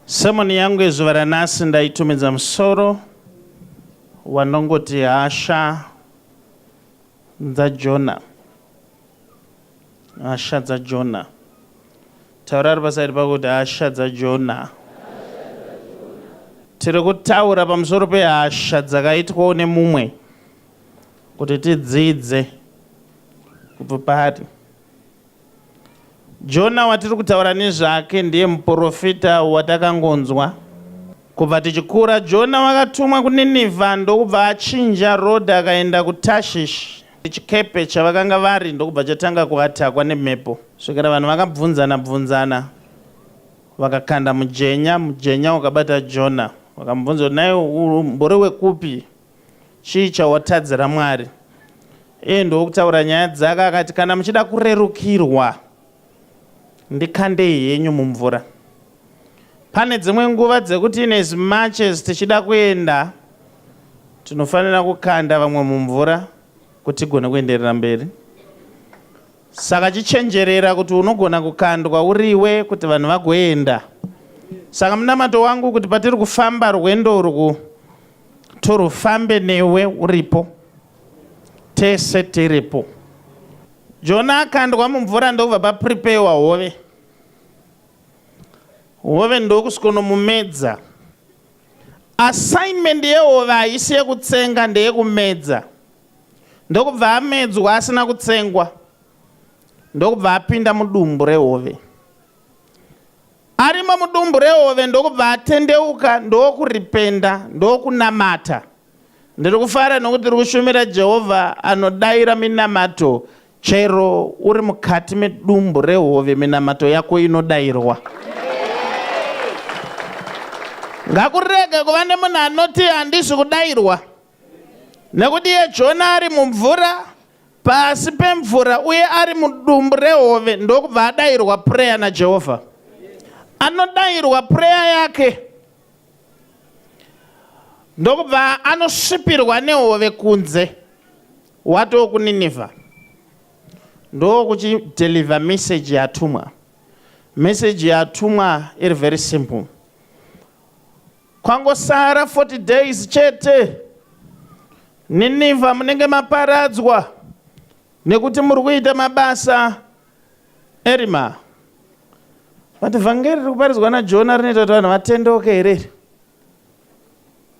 Sermon yangu yezuva ranhasi ndaitumidza musoro wanongoti hasha dzaJona. Hasha dzaJona. Taura ari pasaidi pako kuti hasha dzaJona. Tiri kutaura pamusoro pehasha dzakaitwawo nemumwe kuti tidzidze kubva paari. Jona watiri kutaura nezvake ndiye muporofita watakangonzwa. Kubva tichikura, Jona wakatumwa kuNinivha ndokubva achinja rodha akaenda kuTashishi nechikepe chavakanga vari ndokubva chatanga kuatakwa nemhepo kusvikira vanhu vakabvunzana bvunzana vakakanda mujenya, mujenya ukabata Jona. Vakamubvunza kuti, Nhai umbori wekupi? Chii chawatadzira Mwari? Iye ndokutaura nyaya dzake akati, Kana muchida kurerukirwa, ndikandei henyu mumvura. Pane dzimwe nguva dzekuti in as much as tichida kuenda, tinofanira kukanda vamwe mumvura kuti tigone kuenderera mberi. Saka chichenjerera kuti unogona kukandwa uriwe kuti vanhu vagoenda. Saka munamato wangu kuti patiri kufamba rwendo urwu, Turufambe newe uripo tese tiripo. Jona akandwa mumvura ndokubva papreparewa hove. Hove ndokusikonomumedza. Assignment yehove haisi yekutsenga ndeyekumedza. Ndokubva amedzwa asina kutsengwa ndokubva apinda mudumbu rehove. Arimo mudumbu rehove ndokubva atendeuka ndokuripenda ndokunamata. Ndiri kufara nokuti ndiri kushumira Jehovha anodaira minamato chero uri mukati medumbu rehove minamato yako inodairwa. Ngakurege kuva nemunhu anoti handisi kudairwa nekuti iye Jona ari mumvura pasi pemvura uye ari mudumbu rehove ndokubva adayirwa pureya naJehovha. Anodayirwa pureya yake ndokubva anosvipirwa nehove kunze watoo kuNinevha ndokuchideliver message yatumwa. Message yatumwa iri very simple. Kwangosara 40 days chete Nineveh munenge maparadzwa nekuti muri kuita mabasa erima. Vati vhangeri riri kuparidzwa naJona rinoita kuti vanhu vatendeuke here?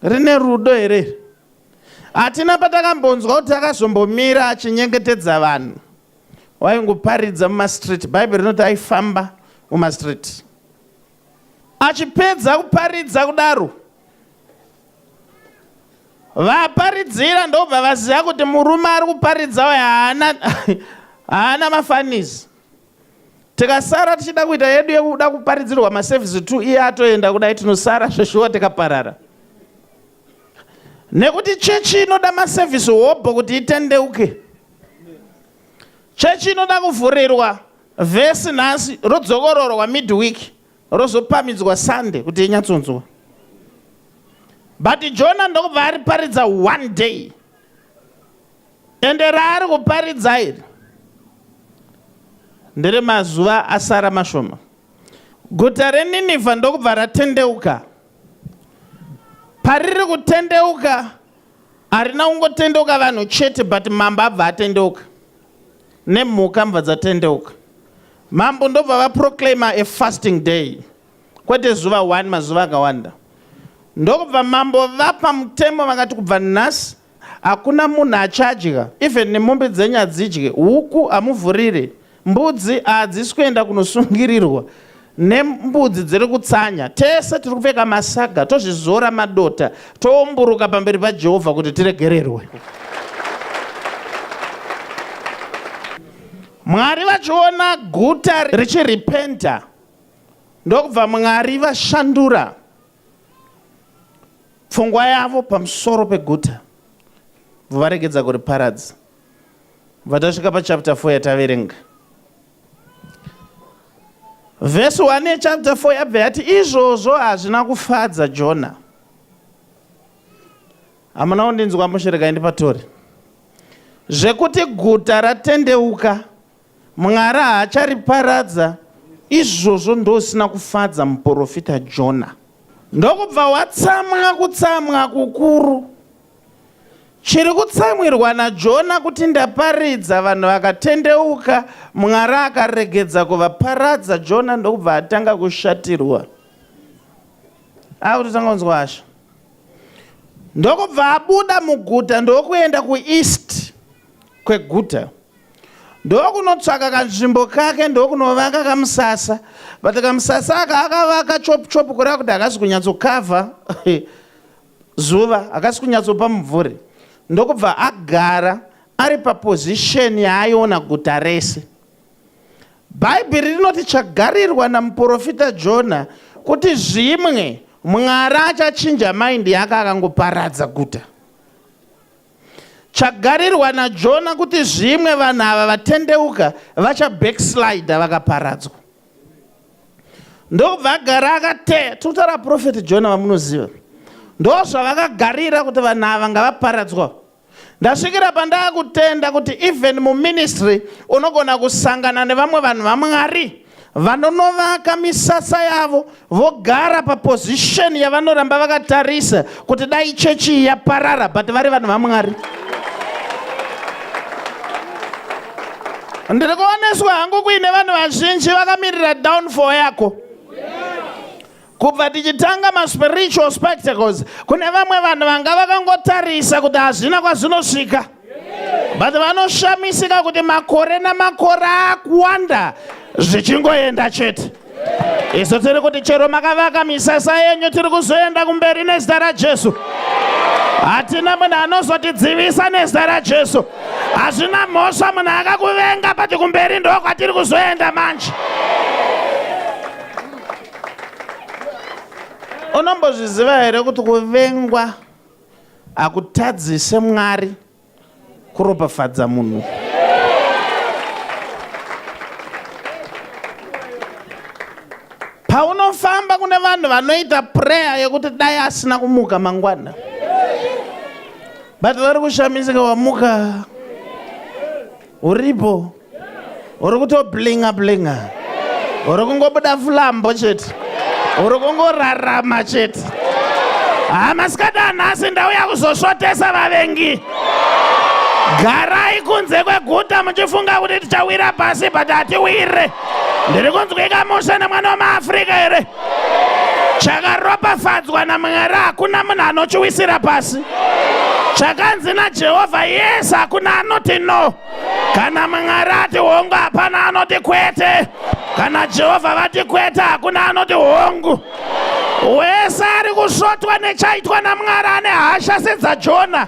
Rine rudo here? Hatina patakambonzwa kuti akazombomira achinyengetedza vanhu. Waingoparidza mumastreet. Bhaibheri rinoti aifamba mumastreet. Achipedza kuparidza kudaro, vaparidzira ndobva vaziva kuti murume ari kuparidza uyu haana haana mafanizi. Tikasara tichida kuita yedu yekuda kuparidzirwa maservice two iye atoenda kudai tinosara zveshuwa tikaparara. Nekuti chechi inoda maservice hobho kuti itendeuke. Chechi inoda kuvhurirwa. Vhesi nhasi rodzokororwa midweek rozopamidzwa Sunday kuti inyatsonzwa. But Jona ndokubva ariparidza one day. Ende raari kuparidza iri ndere mazuva asara mashoma. Guta reNinevha ndokubva ratendeuka. Pariri kutendeuka harina kungotendeuka vanhu chete but mambo abva atendeuka. nemhuka mbva dzatendeuka. Mambo ndobva vaproclaimer a fasting day kwete zuva one mazuva akawanda. Ndokubva mambo vapa mutemo vakati kubva nhasi hakuna munhu achadya even nemombe dzenyu hadzidye, huku hamuvhurire, mbudzi haadzisi kuenda kunosungirirwa nembudzi dziri kutsanya, tese tiri kupfeka masaga, tozvizora madota, toumburuka pamberi paJehovha kuti tiregererwe. Mwari vachiona guta richirepenta, ndokubva Mwari vashandura pfungwa yavo pamusoro peguta, varegedza kuriparadza. Vatasvika pachapter 4 yataverenga Vhesi 1 yechapta 4 yabva yati, Izvozvo hazvina kufadza Jona. Hamuna kundinzwa mushe, regai ndipatore. Zvekuti guta ratendeuka, Mwari haachariparadza, izvozvo ndosina kufadza muprofita Jona. Ndokubva watsamwa kutsamwa kukuru, Chiri kutsamwirwa naJona kuti ndaparidza vanhu vakatendeuka, Mwari akaregedza kuvaparadza Jona ndokubva atanga kushatirwa. Akutotanga kunzwa hasha. Ndokubva abuda muguta ndokuenda kueast kweguta. Ndokunotsvaka kanzvimbo kake ndokunovaka kamusasa. But kamusasa aka akavaka chop chop kureva kuti akazi kunyatsokavha. zuva hakasi kunyatsopa mumvuri ndokubva agara ari papozisheni yaaiona guta rese. Bhaibheri rinoti chagarirwa namuporofita Jona kuti zvimwe Mwari achachinja maindi yake akangoparadza guta. Chagarirwa naJona kuti zvimwe vanhu ava vatendeuka vachabackslida vakaparadzwa. ndokubva agara akateya tikutaura profeti jona vamunoziva ndo zvavakagarira kuti vanhu ava ngavaparadzwa ndasvikira pandaa kutenda kuti even muministry unogona kusangana nevamwe vanhu vamwari vanonovaka misasa yavo vogara papozisheni yavanoramba vakatarisa kuti dai chechi iyi yaparara but vari vanhu vamwari ndiri kuoneswa hangu kuine vanhu vazhinji vakamirira downfall yako kubva tichitanga maspiritual spectacles kune vamwe vanhu vanga vakangotarisa kuti hazvina kwazvinosvika but vanoshamisika kuti makore namakore akuwanda zvichingoenda chete isu tiri kuti chero makavaka misasa yenyu tiri kuzoenda kumberi nezita rajesu hatina munhu anozotidzivisa nezita rajesu hazvina mhosva munhu akakuvenga pati kumberi ndo kwatiri kuzoenda manje unombozviziva here kuti kuvengwa Hakutadzise Mwari kuropafadza munhu. Paunofamba kune vanhu vanoita prayer yekuti dai asina kumuka mangwana. But vari kushamisika wamuka. Uripo? Uri kutoblinga blinga? Uri kungobuda flambo chete? Uri kungorarama chete? Haa masikada nhasi ndauya kuzosvotesa vavengi. Garai kunze kweguta muchifunga kuti tichawira pasi but hatiwire. Ndiri kunzwika mushe nemwana wemaAfrica here? chakaropafadzwa namwari hakuna munhu anochiwisira pasi chakanzi najehovha yes hakuna anoti no kana mwari ati hongu hapana anoti kwete kana jehovha vati kwete hakuna anoti hongu wese ari kusvotwa nechaitwa namwari ane hasha sedzajona